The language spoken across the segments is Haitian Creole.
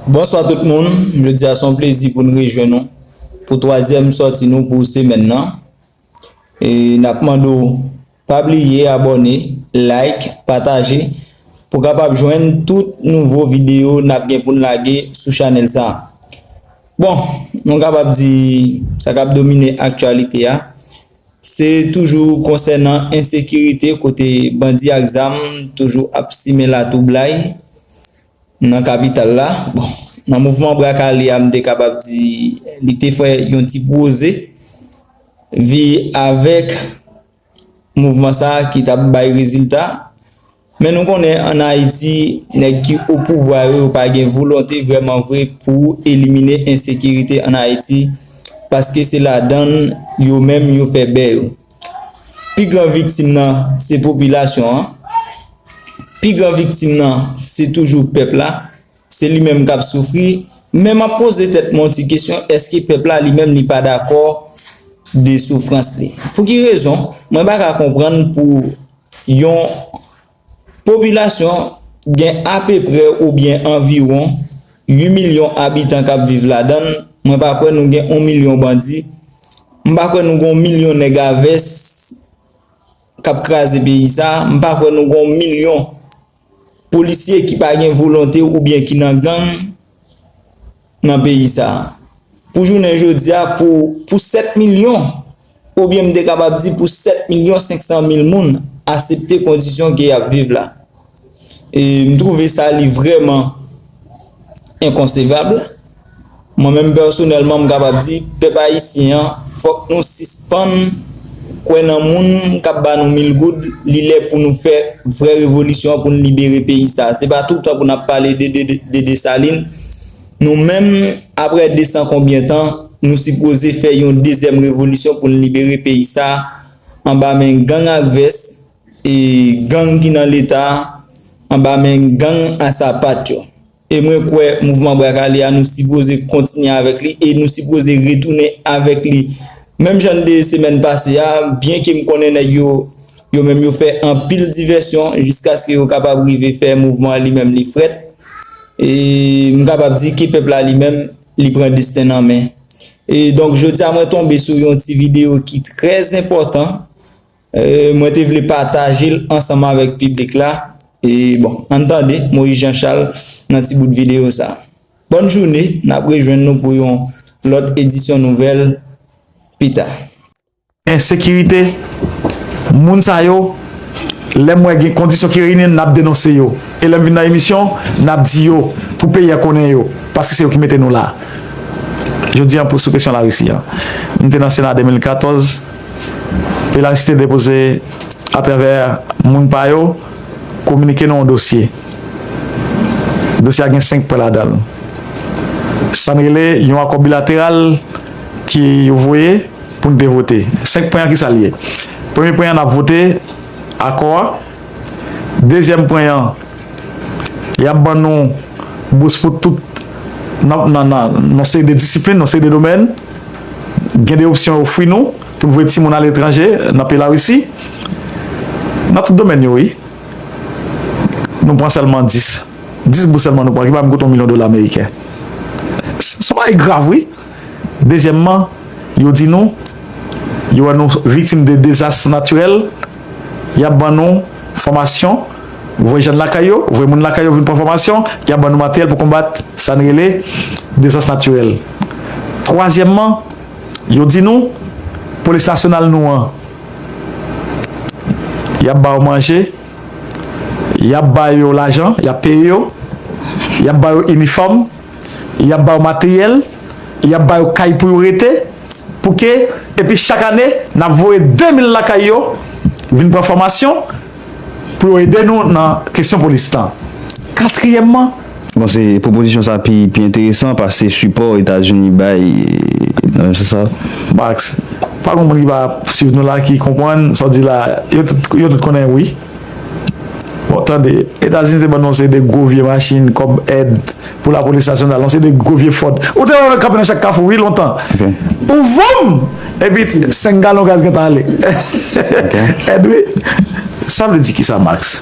Bonswa tout moun, jodi a son plezi pou n rejwenn nou pou twazyèm sòti nou pou semèn nan e nap mande w pa bliye abòne, like, pataje pou w kapab jwenn tout nouvo videyo nap gen pou n lage sou chanèl sa. Bon, nou kapab di sa kap domine aktyalite a se toujou konsènan ensekirite kote bandi ak zam toujou ap simen latwoublay Nan kapital la, bon, nan mouvman bra kale a m te kapab di li te fè yon ti pwoze vi avèk mouvman sa a ki t ap bay rezilta. Men nou konnen an Ayiti nèg ki o pouvwa yo yo pa gen volonte vrèman vre pou elimine ensekirite an Ayiti paske se ladan l yo menm yo fè bè yo. Pi gran viktim nan se popilasyon an. pi gran viktim nan se toujou pèp la, se li menm k ap soufri, men m ap poze tèt mwen yon ti kesyon, èske pèp la li menm li pa dakò de soufrans li? Pou ki rezon mwen pa ka konprann pou yon popilasyon gen apeprè oubyen anviwon 8 milyon abitan k ap viv ladan l, mwen pa kwè nou gen yon milyon bandi, m pa kwè nou gen yon milyon nèg a vès kap kraze peyi sa m pa kwè nou gon milyon polisye ki pa gen volonte ou byen ki nan gang nan peyi sa pou jounen jodia pou pou 7 milyon ou byen m te kapab di pou 7 milyon 500 mil moun asepte kondisyon ke yap viv la E m trouve sa li vrèman enkonsevab. Mwen menm pèsonèlman m kapab di pèp ayisyen an fòk nou sispann kwè nan moun k ap ba nou mil goud li lè pou nou fè vrè revolisyon an pou n libere peyi sa a. Se pa tout tan pou n ap pale de Desalin. Nou menm aprè desan konbyen tan nou sipoze fè yon dezyèm revolisyon pou n libere peyi sa a anba men gang ak vès. E gang ki nan leta anba men gang a sapat yo. E mwen kwè mouvman brak ale a nou sipoze kontinye avèk li e nou sipoze retounen avèk li menm jan n te ye semèn pase a byen ke m konnen nèg yo yo menm yo fè anpil divèsyon jiskaske yo kapab rive fè mouvman an li menm li frèt e m kapab di ke pèp la li menm li pran desten l an men. E donk jodi a mwen tonbe sou yon ti videyo ki trèzenpòtan. Mwen te vle pataje l ansanm avèk piblik la e bon ann tande Moïse Jean Charles nan ti bout videyo sa. Bòn joune, n ap rejwenn nou pou yon lòt edisyon nouvèl pita. Ensekirite, moun sa yo lè m wè gen kondisyon ki reyini n ap denonse yo e lè m vin nan emisyon n ap di yo pou peyi a konnen yo paske se yo ki mete nou la. Jodi an pou sou kesyon Larisi an m te nan Sena 2014, Epi Laristide depoze atravè moun pa yo kominike nou yon dosye. Dosye a gen 5 pwen ladan l. Sa n rele yon akò bilateral ke yo voye pou n te vote. 5 pwen an ki sa l ye? Premye pwen an n ap vote akò a. Dezyèm pwen an, y ap ban nou bous pou tout nan yon seri de disiplin, yon seri de domèn. Gen de opsyon yo ofri nou pou nou voye timoun aletranje, nan peyi Larisi. Nan tout domèn yo wi. Nou pran sèlman 10. 10 bous sèlman nou pran ki pa menm kote yon milyon dola meriken. Se yon bagay grav wi. Dezyèmman, yo di nou, yo wè nou viktim de dezas natirèl, y ap ban nou fòmasyon, voye jèn lakay yo, voye moun lakay yo vin pran fòmasyon, y ap ban nou materyèl pou konbat sa n rele dezas natirèl. Twazyèmman, yo di nou, polis nasyonal nou an, y ap ba yo manje, y ap ba yo lajan, y ap peye yo, y ap ba yo inifòm. Y ap ba yo materyèl, y ap ba yo kay pou yo rete, pou ke, epi chak ane, n ap voye 2000 lakay yo vin pran fòmasyon pou yo ede nou nan kesyon polis lan. Katriyèmman. Bon, se pwopozisyon sa pi enteresan pase sipò Etazini bay, nan yon sans sa. Max, pa gen moun ki pa swiv nou la ki konprann sa w di la a. Yo tout konnen wi. Bon tande, Etazini te ban nou yon seri de gwo vye machin kòm èd pou lapolis nasyonal, yon seri de gwo vye Ford. Ou te wè yo kanpe nan chak kafou wi lontan. Pou voum! Epi 5 galon gaz gentan ale. Èd wi. Sa vle di kisa Max?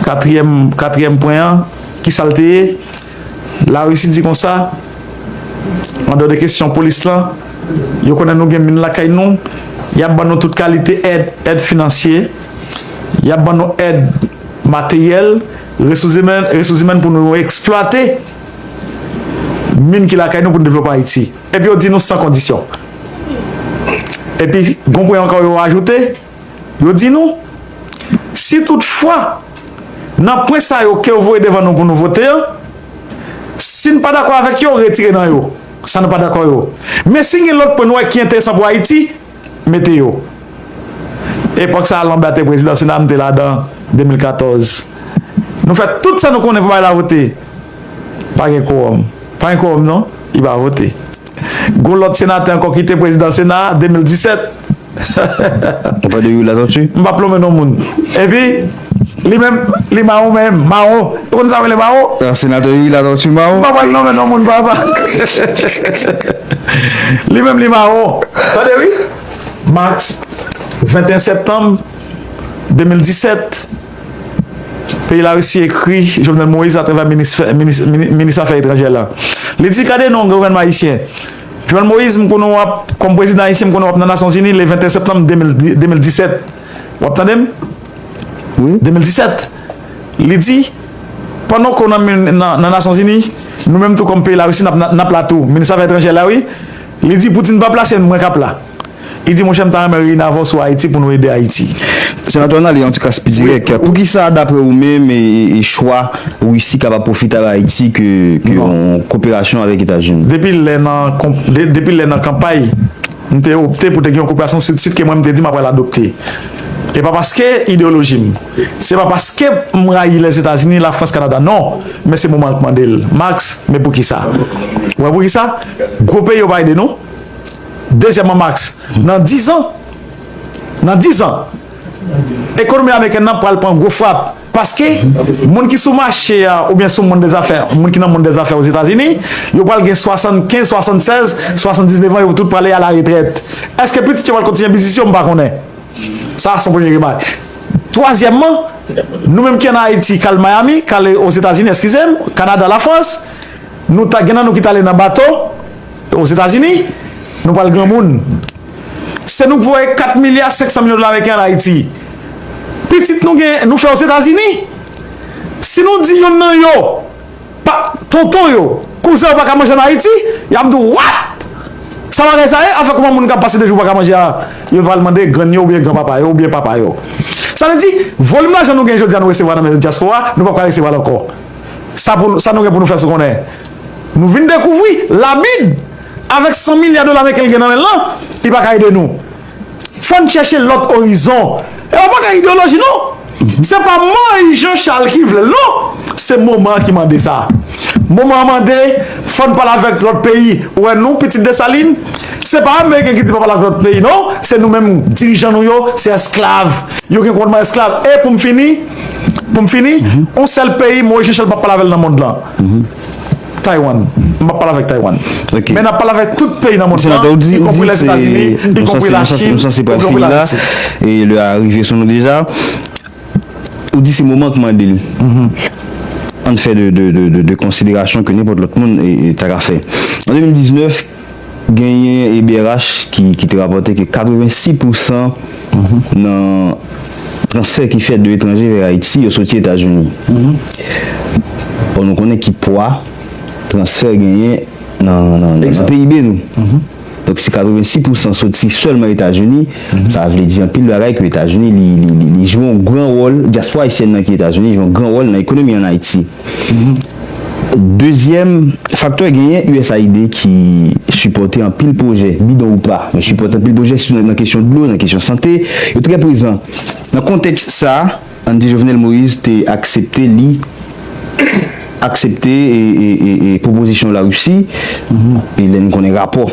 Katriyèm pwen an, kisa l te ye? Larisi di konsa, Andò de kesyon polis lan, yo konnen nou gen min lakay nou, y ap ban nou tout kalite èd, èd finansye, y ap ban nou èd materyèl, resous imèn pou nou eksplwate min ki lakay nou pou nou devlope Ayiti. Epi yo di nou san kondisyon. Epi gonpwen ankò yo ajoute. Yo di nou, si tout fwa, nan pwen sa yo ke yo voye devan nou pou nou vote yo, si nou pa dakò avèk yo, retire nan yo, sa nou pa dakò yo. Men si gen lòt pwen nou wè ki enteresan pou Ayiti, mete yo. Epòk sa a Lambert te prezidan sena, m te ladan, 2014. Nou fè tout sa nou konnen pou bagay la vote. Pa gen kowòm. Pa gen kowòm non, li pa vote. Gon lòt senatè ankò ki te prezidan sena a, 2017. Ou pa de Youri Latortue? M pa plonmen non moun. Epi, li menm, li mawon menm, mawon. Ou konn sa yo rele mawon? Ah, senatè Youri Latortue mawon? M pa pral nonmen non moun papa. Li menm li mawon. Tande wi. Mars, 21 septanm 2017, peyi Larisi ekri Jovenel Moïse atravè minis, minis afè etranjè l lan. Li di gade non gouvènman ayisyen. Jovenel Moïse m konnen w ap kòm prezidan ayisyen m konnen w ap nan nasyonzini le 21 septanm 2017 w ap tande m 2017 li di pandan ke w nan nasyonzini nou menm tou kòm peyi larisi n ap la tou minis afè etranjè la wi li di poutine pa plase n mwen k ap la. Li di, Monchè, m ta renmen reyini avè w sou Ayiti pou nou ede Ayiti. Senatè w nan ale yon ti kras pi dirèk. Poukisa, dapre ou menm, chwa Risi kapab pwofite avè Ayiti ke yon koperasyon avèk Etazini? Depi lè nan, depi lè nan kanpay, m te opte pou te gen yon koperasyon Sid-Sid ke mwen m te di m ap pral adopte. E pa paske ideyoloji m. Se pa paske m rayi Lèzetazini, Lafrans, Kanada. Non! Men se moman an k mande l. Max, Men poukisa? Ou wè poukisa? Gwo peyi yo pa ede nou. Dezyèman Max, nan 10 an, nan 10 an, ekonomi amerikèn nan pral pran gwo frap paske moun ki sou mache a oubyen sou monn dezafè, moun ki nan monn dezafè Ozetazini, yo pral gen 75, 76, 79 an, yo tout prale alaretrèt. Èske pitit yo pral kontinye biznis yo? M pa konnen. Sa son premye remak. Twazyèmman, nou menm ki an Ayiti, kal Miami, kal Ozetazini, èskize m, Kanada, Lafrans, nou ta gen nan nou ki t ale nan bato, Ozetazini, nou pral granmoun. Se nou k voye 4 milya 500 milyon dola meriken an Ayiti. Pitit nou gen, nou fè Ozetazini. Si nou di yonn nan yo, pa, tonton yo, kouzen yo pa ka manje an Ayiti, y ap di w, What? Sa bagay sa ye? Anfen, kouman moun k ap pase 2 jou pa ka manje a? Yo pral mande grann yo oubyen granpapa yo oubyen papa yo. Sa vle di, volim lajan nou gen jodi a nou resevwa nan men dyaspora, nou p ap ka resevwa l ankò. Sa pou sa nou gen pou nou fè sou konnen? Nou vin dekouvri la bid avèk 100 milya dola meriken li gen nan menl lan li pa ka ede nou. Fòn chèche lòt orizon. E pa bagay ideoloji non. Se pa Moise Jean Charles ki vlel non. Se moman an ki mande sa. Moman an mande fòn pale avèk lòt peyi. Ou wè nou pitit Desalin se pa ameriken ki di pa pale avèk lòt peyi non. Se nou menm dirijan nou yo se esklav. Yo gen kòmandman esklav. E poum fini. Pou m fini, yon sèl peyi Moise Jean Charles pa p pale avè l nan mond lan, Taywann. M pa p pale avè Taywann. Men n ap pale avè tout peyi nan mond lan, ikonpri Lèzetazini, ikonpri Lachin, ikonpri Larisi. E lè a rive sou nou deja. Ou di se moman k mande l. An n fè de konsiderasyon ke nenpòt lòt moun ta ka fè. An 2019. Genyen EBRH ki te rapòte ke 86 pousan nan transfè ki fèt de etranje vè Ayiti yo soti Etazini. Or nou konnen ki pwa transfè genyen nan PIB nou. Donk si 86 pousan soti sèlman Etazini, sa vle di anpil bagay ke Etazini li jwe yon gran wòl, dyaspora ayisyèn nan ki Etazini jwe yon gran wòl nan ekonomi an Ayiti. Dezyèm faktè genyen usaid ki sipòte anpil pwojè, bidon ou pa, yo sipòte anpil pwojè sitou nan kesyon dlo, nan kesyon sante, yo trè prezan. Nan kontèks sa, ann di Jovenel Moïse te aksepte li aksepte pwopozisyon Larisi e lè n konnen rapò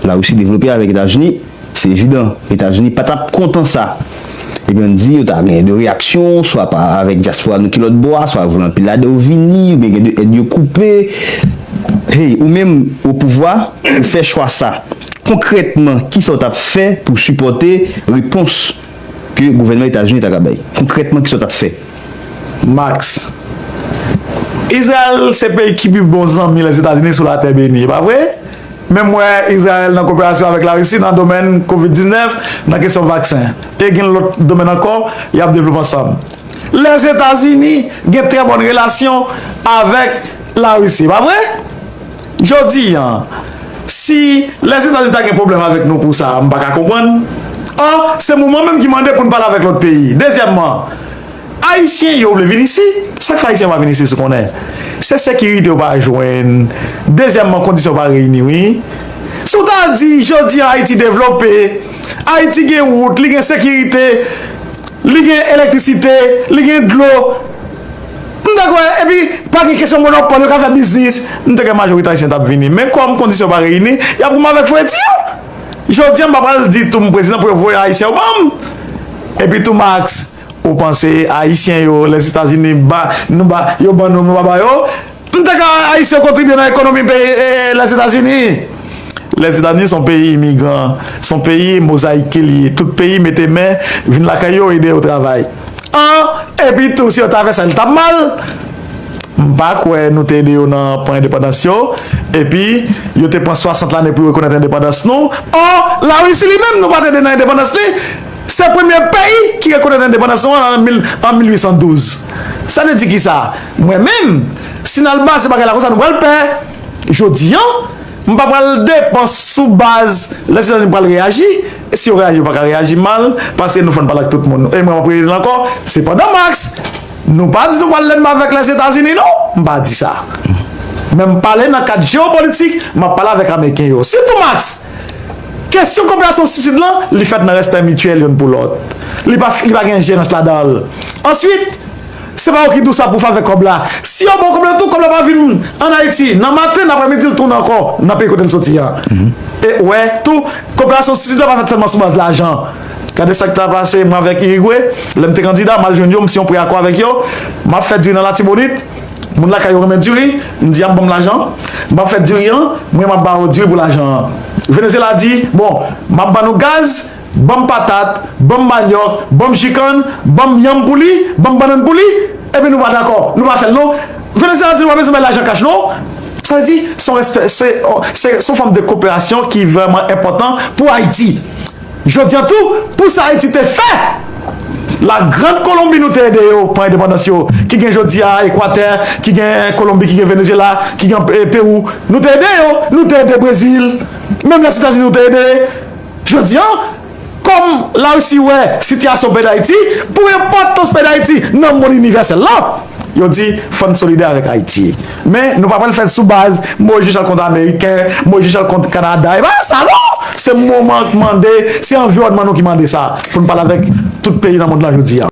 Larisi devlope avèk Etazini. Se evidan, Etazini pa t ap kontan sa. Ebyen n di yo ta gen de reyaksyon, swa pa avèk dyaspora nou ki lòt bò a, swa yo vle anpil lade yo vini, oubyen gen de èd yo koupe. Hey, ou menm, opouvwa, ou fè chwa sa. Konkrètman, ki sa w t ap fè pou w sipòte repons ke gouvènman Etazini ta ka bay? Konkrètman, ki sa w t ap fè? Max. Izrayèl se peyi ki pi bon zanmi Lèzetazini sou latè beni, e pa vre? Menm wè Izrayèl nan koperasyon avèk Larisi nan domèn kovid 19, nan kesyon vaksen. E gen lòt domèn ankò y ap devlope ansanm. Lèzetazini gen trè bòn relasyon avèk Larisi, e pa vre? Jodi an, si Lèzetazini ta gen pwoblèm avèk nou pou sa, m pa ka konprann. 1, Se moman menm ki mande pou n pale avèk lòt peyi. Dezyèmman, Ayisyen yo vle vin isi, sa k fè Ayisyen pa vin isit ou konnen? Se sekirite yo pa jwenn, dezyèmman kondisyon yo pa reyini wi. Si w ta di jodi an Ayiti devlope, Ayiti gen wout, li gen sekirite, li gen elektrisite, li gen dlo, M ta kwè, epi pa gen kesyon monopòl, yo ka fè biznis, m ta kwè majorite ayisyen t ap vini. Men kòm kondisyon pa reyini, y ap goumen avèk fredi yo. Jodi a m pa pral di tou m prezidan pou yo voye ayisyen yo ban m. Epi tou Max, ou panse ayisyen yo, Lèzetazini ba nou ba yo ban nou nou pa ba yo? M ta kwè ayisyen yo kontribye nan ekonomi peyi Lèzetazini. Lèzetazini s on peyi imigran, s on peyi mozayike li ye. Tout peyi mete men vin lakay yo ede yo travay. An, epi tou si yo ta fè sa li tap mal? M pa kwè nou te ede yo nan pran endepandans yo, epi yo te pran 60 lane pou yo rekonèt endepandans nou. An, La Risi li menm nou pat ede nan endepandans li, se premye peyi ki rekonèt endepandans nou an an 1812. Sa vle di kisa? Mwen menm, si n al baze bagay la konsa nou pral pè. Jodi an, m pa pral depan sou baz lè se lè nou pral reyaji. Si yo reyaji yo paka reyaji mal paske nou fon pale ak tout moun e mwen ap rele l ankò se pandan max nou pa di nou pral lènmi avèk lèzetazini non m pa di sa men m pale nan kad jewopolitik m ap pale avèk ameriken yo sitou max kesyon koperasyon sou sid lan li fèt nan rèspè mityèl youn pou lòt li pa gen enjerans ladan l answit Se pa ou ki di w sa pou favè kòb la. Si yo ba w kòb la tou, kòb la pa vin an Ayiti nan maten, nan aprèmidi l tounen ankò nan peyi kote l soti a. E ou wè tou, koperasyon Sid la pa fèt sèlman sou baz lajan. Gade sa k ta pase mwen avèk Irigwe, lè m te kandida, m al jwenn yo, m siyen yon pre-akò avèk yo. M ap fè diri nan Latibonit, moun lakay yo renmen diri, m di y ap ban m lajan. M ap fè diri an, mwen m ap ba yo diri pou lajan an. Venezyela di, bon, m ap ban nou gaz, Ban m patat, ban m manyòk, ban m ji kann, ban m yanm pou li, ban m bannann pou li, epi nou pa dakò, nou pa fè l non. Venezyela ap di nou pa bezwen bay lajan kach non. Sa vle di, se yon respè, se se yon fòm de koperasyon ki vrèman enpòtan pou Ayiti. Jodi an tou, pou sa Ayiti te fè La Grande Colombie nou te ede yo pran endepandans yo, ki gen jodi a Ekwatè, ki gen Kolonbi, ki gen Venezyela, ki gen Pewou, nou te ede yo, nou te ede Brezil, menm Lèzetazini nou te ede. Jodi an, kòm Larisi wè sitiyasyon peyi Dayiti pou enpòtans peyi Dayiti nan monn inivèsèl la, yo di fò n solidè avèk Ayiti. Men, nou pa pral fè l sou baz mwen jis al kont Ameriken, mwen jis al kont Kanada, e pa sa non! Se moman an k mande, se anviwònman nou ki mande sa pou n pale avèk tout peyi nan monn lan jodi an.